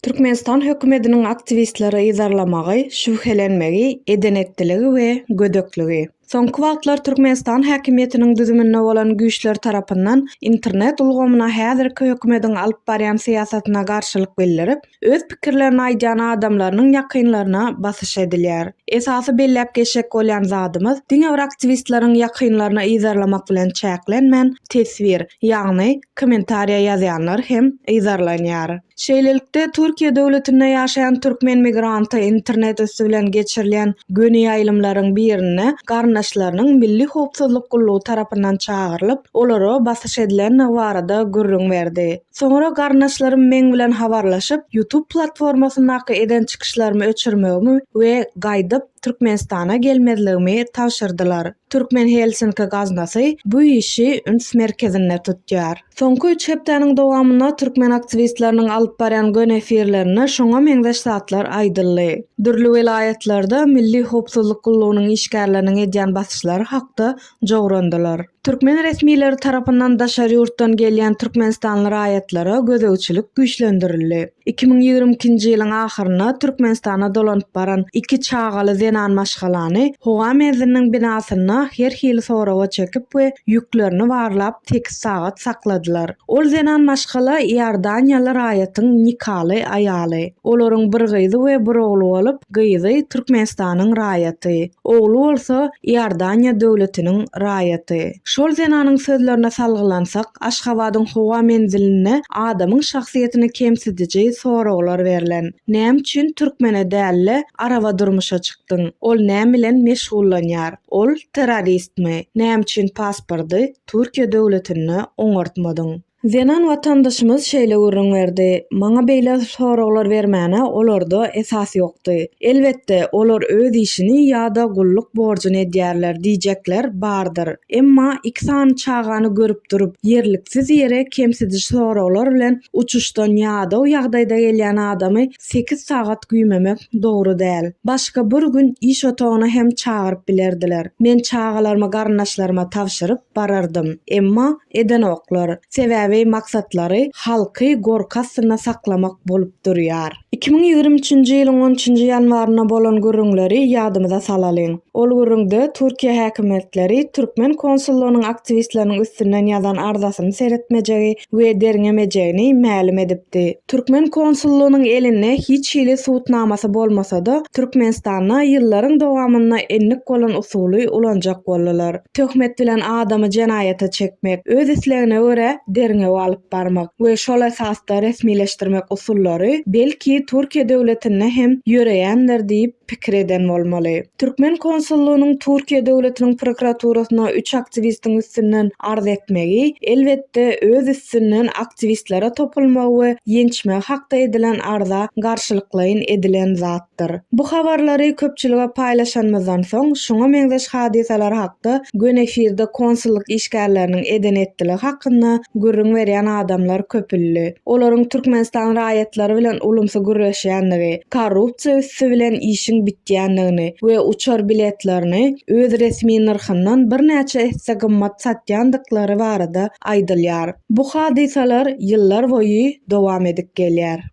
Türkmenistan hökümetiniň aktiwistleri yzarlamagy, şübhelenmegi, eden-etdiligi we gödekligi. Soňky wagtlar Türkmenistan häkimiýetiniň düzüminde bolan güýçler tarapyndan internet ulgamyna häzirki hökümetiň alyp barýan syýasatyna garşylyk bildirip, öz pikirlerini aýdýan adamlarynyň ýakynlaryna basyş edilýär. Esasy belläp geçjek bolýan zadymyz, diňe bir aktiwistleriň ýakynlaryna yzarlamak bilen çäklenmän, teswir, ýagny kommentariýa ýazýanlar hem yzarlanýar. Şeýlelikde, Türkiýe döwletinde ýaşaýan türkmen migranty internet üsti bilen geçirilýän göni ýaýlymlaryň birinde garyndaşlarynyň Milli howpsuzlyk gullugy tarapyndan çagyrylyp, olara basyş edilendigi barada gürrüň berdi. Soňra garyndaşlarym meň bilen habarlaşyp, YouTube platformasyndaky eden çykyşlarymy öçürmegimi we gaýdyp Türkmenistana gelmezligimi tabşyrdylar. Türkmen Helsinki gaznasy bu işi üns merkezinde tutýar. Soňky üç hepdäniň dowamynda türkmen aktiwistleriniň alyp barýan gön efirlerinde şoňa meňzeş zatlar aýdyldy. Dürli welaýatlarda Milli howpsuzlyk gullugynyň işgärleriniň edýän basyşlary hakda jograndylar. Türkmen resmileri tarapyndan daşary ýurtdan gelýän türkmenistanly raýatlara gözegçilik güýçlendirildi. Iki müň ýigrimi ikinji ýylyň ahyrynda Türkmenistana dolanyp baran iki çagaly zenan maşgalany howa menziliniň binasynda her hili soraga çekip we ýüklerini barlap sekiz sagat sakladylar. Ol zenan maşgala iordaniýaly raýatyň nikaly aýaly. Olaryň bir gyzy we bir ogly bolup, Gyzy Türkmenistanyň raýaty, ogly bolsa Iordaniýa döwletiniň raýaty. Şol zenanyň sözlerine salgylansak, Aşgabadyň howa menzilinde adamyň şahsyýetini kemsidiji soraglar berlen. Näme üçin türkmene däl-de, araba durmuşa çykdyň? Ol näme bilen meşgullanýar? Ol terroristmi? Näme üçin paspordy Türkiýe döwletinde oňartmadyň? Zenan watandaşymyz şeýle gürrüň berdi, Maňa beýle soraglar bermäne olarda esas ýokdy. Elbetde, olar öz işini ýa-da gulluk borjuny edýärler diýjekler bardyr. Emma iki sany çagany görüp durup, ýerliksiz ýere kemsidiji soraglar bilen uçuşdan ýadaw ýagdaýda gelýän adamy Sekiz sagat güýmemek dogry däl. Başga bir gün iş otagyna hem çagyryp bilerdiler. Men çagalarymy garyndaşlaryma tabşyryp barardym. Emma edenoklar. Sebäbi maksatlary halky gorky astynda saklamak bolup durýar. Iki müň ýigrimi üçünji ýylyň on üçünji ýanwarynda bolan gürrüňleri ýadymyza salalyň. Ol gürrüňde Türkiýe häkimiýetleri türkmen konsullygynyň aktiwistleriniň üstünden ýazan arzasyny seretmejegi, we derňemejegini mälim edipdi. Türkmen konsullygynyň elinde hiç hili subutnamasy bolmasa-da, Türkmenistanda ýyllaryň dowamynda endik bolan usuly ulanjak boldular. Töhmet bilen adamy jenaýata çekmek, öz islegine görä derňew alyp barmak we şol esasda resmileşdirmek usullary, belki, Türkiýe döwletinde hem ýöreýändir diýip, pikir eden bolmaly. Türkmen konsullygynyň Türkiýe döwletiniň prokuraturasyna üç aktiwistiň üstünden arz etmegi, elbetde, öz üstünden aktiwistlere topulmagy we ýençmegi hakda edilen arza garşylyklaýyn edilen zatdyr. Bu habarlary köpçülige paýlaşanymyzdan soň, şuňa meňzeş hadysalar hakda göni efirde konsullyk işgärleriniň eden-etdiligi hakynda gürrüň berýän adamlar köpüldi. olaryň Türkmenistan raýatlary bilen ulumsy gürleşýändigi, korrupsiýa üsti bilen işiň bitýändigini we uçar biletlerini öz resmi nyrhyndan birnäçe esse gymmat satýandyklary barada aýdylýar. Bu hadysalar ýyllar boýy dowam edip gelýär.